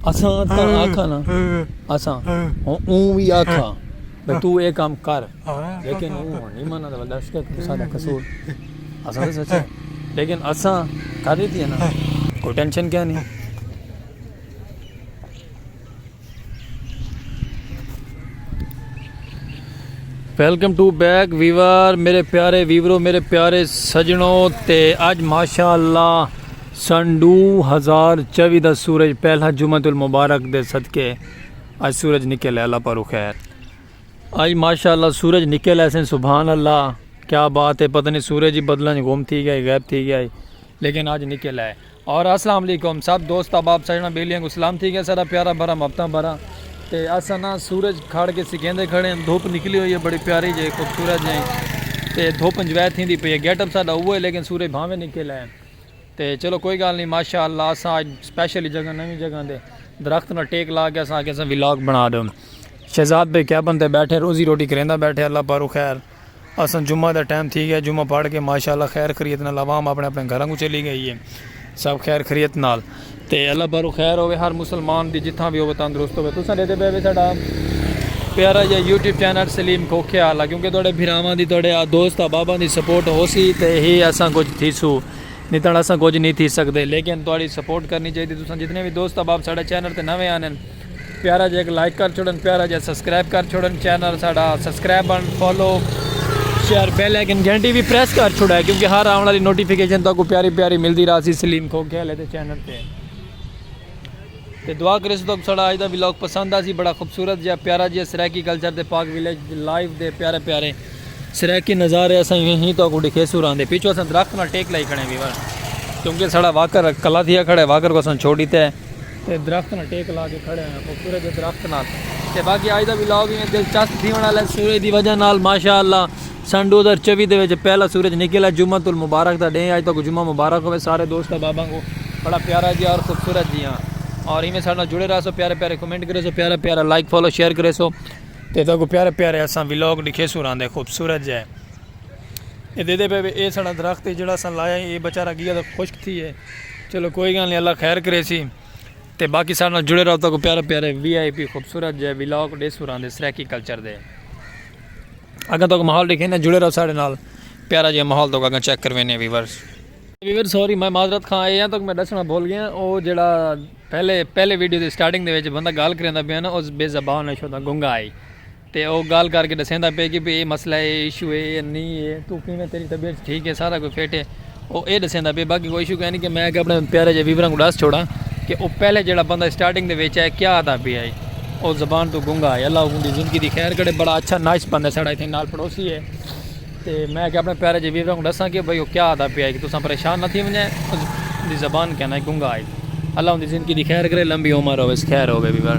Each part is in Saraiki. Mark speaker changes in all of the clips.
Speaker 1: اساں تاں آکھا نا اساں اوں وی آکھا بھئی تو اے کام کر لیکن اوں ہن نہیں مانا دا دس کے تساں دا قصور اساں تے سچ ہے لیکن اساں کر دیتی ہے نا کوئی ٹینشن کیا نہیں ویلکم ٹو بیک ویور میرے پیارے ویورو میرے پیارے سجنوں تے اج ماشاءاللہ سن ڈو ہزار چوی دا سورج پہلا جمعۃ المبارک دے صدقے اج سورج نکل ہے اللہ پارو خیر اج ماشاءاللہ سورج نکل ہے سن سبحان اللہ کیا بات ہے پتہ نہیں سورج ہی بدلاں وچ گم تھی گئے غائب تھی گئے لیکن اج نکل ہے اور السلام علیکم سب دوست احباب سجنا بیلیاں کو سلام تھی گئے سارا پیارا بھرا محبتاں بھرا تے اساں نا سورج کھڑ کے سکیندے کھڑے ہیں دھوپ نکلی ہوئی ہے بڑی پیاری جے خوبصورت جے تے دھوپ انجوائے تھیندی پئی ہے گیٹ اپ ساڈا اوہ ہے لیکن سورج بھاویں نکل ہے تے چلو کوئی گال نی ماشاء اللہ اساں اج سپیشلی جگہ نوی جگہ دے درخت نال ٹیک لا کے اساں آکھیا اساں ولاگ بنا ڈیون شہزاد بھائی کیبن تے بیٹھے روزی روٹی کریندا بیٹھے اللہ پاروں خیر اساں جمعہ دا ٹائم تھی گیا جمعہ پڑھ کے ماشاء اللہ خیر خریت نال عوام اپنے اپنے گھراں کوں چلی گئی ہے سب خیر خریت نال تے اللہ بھرو خیر ہووے ہر مسلمان دی جتھاں وی ہووے تندرست ہووے تساں ڈیکھدے پئے وے ساڈا پیارا جا یوٹیوب چینل سلیم کھوکھے آلا کیونکہ تہاڈے بھراواں دی تہاڈے دوست احباباں دی سپورٹ ہوسی تے ہی اساں کچھ تھیسو نی تاں اساں کچھ نی تھی سکدے لیکن تہاڈی سپورٹ کرنی چاہیدی تساں جتنے وی دوست احباب ساڈے چینل تے نوے آندن پیارا جا ایک لائک کر چھوڑن پیارا جا سبسکرائب کر چھوڑن چینل ساڑا سبسکرائب بن فالو شیئر بیل آئیکن گھنٹی بھی پریس کر چھوڑا ہے کیونکہ ہر آن والی نوٹیفیکیشن تو کو پیاری پیاری ملدی راسی سلیم کھو کھیل ہے تے چینل تے تے دعا کرے سو تو ساڑا آج دا ویلوگ پسند آسی بڑا خوبصورت جا پیارا جا سرائیکی کلچر دے پاک ویلیج لائیو دے پیارے پیارے سرائیکی نظارے اساں ہی ہی تو کو ڈکھے سو رہن دے پیچھو اساں درخت نہ ٹیک لائی کھڑے ہیں کیونکہ ساڑا واکر کلا دیا کھڑے واکر کو اساں چھوڑی تے تے درخت نال ٹیک لا کے کھڑے ہویاں خوبصورت جے درخت نال تے باقی آج دا ولاگ وی انہیں دلچسپ تھیون آلا ہے سورج دی وجہ نال ماشاءاللہ سن ڈو ہزار چوی دے وچ پہلا سورج نکل ہے جمعۃ المبارک دا ڈینھ ہے آج تہاکوں جمعہ مبارک ہووے سارے دوست احباباں کوں بڑا پیارا جیہا اور خوبصورت جیہا اور ایویں ساڈے نال جڑے رہسو پیارے پیارے کمنٹ کریسو پیارا پیارا لائک فالو شیئر کریسو تے تہاکوں پیارے پیارے اساں ولاگ ڈکھیسو راندے خوبصورت جے اے دیدے پے اے ساڈا درخت جیہڑا اساں لایا اے بیچارہ گیا تے خشک تھی ہے۔ چلو کوئی گال نہیں اللہ خیر کرے سی تے باقی سارے نال جڑے رہو تاکو پیارے پیارے وی آئی پی خوبصورت جے ویلاگ ڈے سوران دے سرائیکی کلچر دے اگر تاکو ماحول دیکھے نا جڑے رہو سارے نال پیارا جے ماحول تاکو اگر چیک کروینے ویورز ویور سوری میں معذرت خواہ اے ہیں تاکو میں دسنا بھول گیا او جڑا پہلے پہلے ویڈیو دے سٹارٹنگ دے وچ بندہ گال کریندا پیا نا او بے زبان ہے شودا گنگا ہے تے او گالھ کر کے ڈسیندا پئے کہ بھئی اے مسئلہ اے اے ایشو اے اے نی اے توں کیویں تیڈی طبیعت ٹھیک اے سارا کوئی فٹ اے او اے ڈسیندا پئے باقی کوئی ایشو کائنی کہ میں اگے اپنے پیارے جے ویوراں کوں ڈس چھوڑاں کہ او پہلے جیڑا بندہ اسٹارٹنگ دے وچ آئے کیا آدا پیا اے او زبان توں گنگا اے اللہ اوندی زندگی دی خیر کرے بڑا اچھا نائس بندہ اے ساڈا ایتھے نال پڑوسی اے۔ تے میں آکھیا اپݨے پیارے جے ویوراں کوں ݙساں کہ بھئی او کیا آہدا پیا ہے کہ تساں پریشان نہ تھی ونڄے اوں دی زبان کیا ناں گنگا ہے۔ اللہ اوندی زندگی دی خیر کرے لمبی عمر ہوویس خیر ہووے ویور۔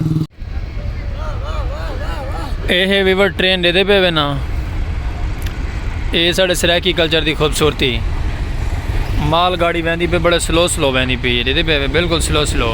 Speaker 1: اے ہے ویور ٹرین ݙیدھے پئے وے ناں اے ہے ساݙے سرائیکی کلچر دی خوبصورتی مال گاڑی ویندی پئی بڑے سلو سلو ویندی پئی ہے ݙیدھے پئے وے بلکل سلو سلو۔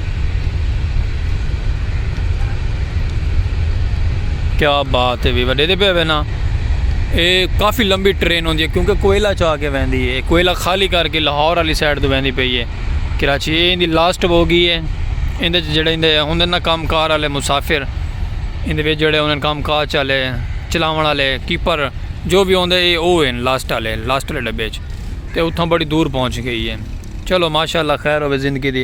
Speaker 1: کیا بات ہے بھی وڈے دے پہ وینا اے کافی لمبی ٹرین ہوندی ہے کیونکہ کوئلہ چاہ کے ویندی ہے کوئلہ خالی کر کے لاہور والی سائڈ تو ویندی پئی ہے کراچی اے اندی لاسٹ ہو گئی ہے اندے جڑے اندے ہوندے نا کام کار والے مسافر اندے وچ جڑے ہوندے کام کار چالے چلاون والے کیپر جو بھی ہوندے اے او ہیں لاسٹ والے لاسٹ والے ڈبے وچ تے اتھاں بڑی دور پہنچ گئی ہے چلو ماشاءاللہ خیر ہوے زندگی دی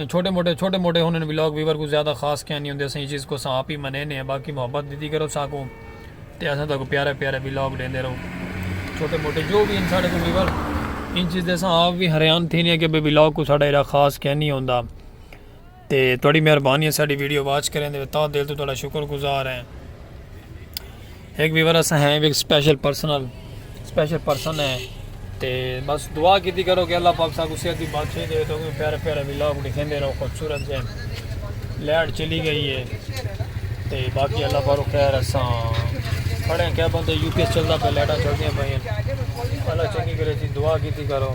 Speaker 1: چھوٹے موٹے چھوٹے موٹے ہونن ولاگ ویور کوں زیادہ خاص کیا نہیں ہوندے اساں ایں چیز کوں اساں آپ ہی منینے ہیں باقی محبت دیتی کرو ساں کوں تے اساں تاکوں پیارے پیارے ولاگ ڈیندے رہو چھوٹے موٹے جو بھی ان ساڈے کوں ویور ان چیز دے اساں آپ بھی حیران تھینے ہیں کہ بے ولاگ کو ساڈا ایرا خاص کیا نہیں ہوندا تے تہاڈی مہربانی ہے ساڈی ویڈیو واچ کریں دے تا دل تو تہاڈا شکر گزار ہیں ایک ویور اساں ہیں ایک سپیشل پرسنل سپیشل پرسن ہے تے بس دعا کیتی کرو کہ اللہ پاک ساکو صحت دی بادشاہی دے تو پیارے پیارے ولاگ دکھیندے رہو خوبصورت ہے لائٹ چلی گئی ہے تے باقی اللہ پاک خیر اساں کھڑے ہیں کیا بندے یو پی ایس چلدا پہ لائٹاں چلدیاں پئیں اللہ چنگی کرے تھی دعا کیتی کرو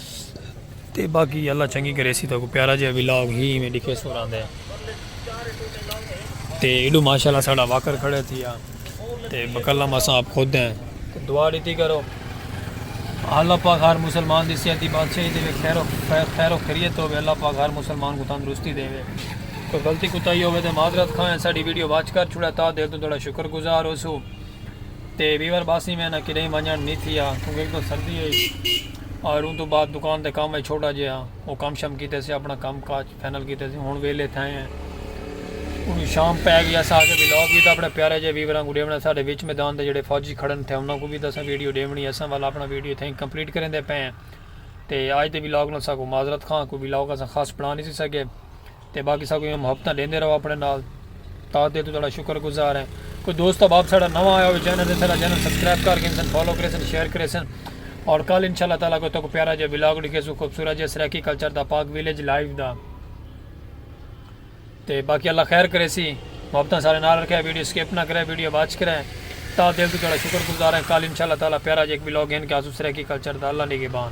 Speaker 1: تے باقی اللہ چنگی کریسی تو کو پیارا جہا ولاگ ہی میں ڈکھے سو رہا دے تے ایڈو ماشاءاللہ ساڑا واکر کھڑے تھی تے بکلم اساں آپ خود ہیں دعا ڈیتی کرو اللہ پاک ہر مسلمان دی صحت دی بادشاہی دے خیر و خیر و خیریت ہوے اللہ پاک ہر مسلمان کو تندرستی دے کوئی غلطی کوتا ہی ہوے تے معذرت کھائیں ساڈی ویڈیو واچ کر چھڑا تا دل تو تھوڑا شکر گزار ہو سو تے ویور باسی میں نہ کدی منجن نہیں تھیا کیونکہ تو سردی ہے اور اوں توں بعد دکان دے کم اچ چھوٹا جیہا او کم شم کیتے سے اپنا کم کاج فائنل کیتے سے ہن ویلے تھائیں ہیں انہوں شام پے گیا سا کے ویلاگ بھی تھا اپنے پیارے جے ویوراں کو ڈیونا ساڈے وچ میدان دے جڑے فوجی کھڑن تھے انہاں کو بھی تساں ویڈیو ڈیونی اساں والا اپنا ویڈیو تھیں کمپلیٹ کریں دے پے ہیں تے آج دے ویلاگ نال ساکو معذرت خواں کو ویلاگ اساں خاص بنا نہیں سی سکے تے باقی ساکوں ایہاں محبتاں ڈیندے رہو اپنے نال تاں دل توں تہاڈا شکر گزار ہیں کوئی دوست احباب ساڈا نواں آیا ہوے چینل تے ساڈا چینل سبسکرائب کر گھنسن فالو کریسن شیئر کریسن اور کل انشاءاللہ تعالی کوئی تاکوں پیارا جے ولاگ ڈکھیسوں خوبصورت جے سرائیکی کلچر دا پاک ویلیج لائیو دا تے باقی اللہ خیر کرے سی محبتاں سارے نال رکھے ویڈیو سکپ نہ کرے ویڈیو واچ کرے تا دل تو جڑا شکر گزار ہیں کل انشاءاللہ تعالی پیارا جے ایک ولاگ ہیں کہ آسو سرے کی کلچر دا اللہ نگہبان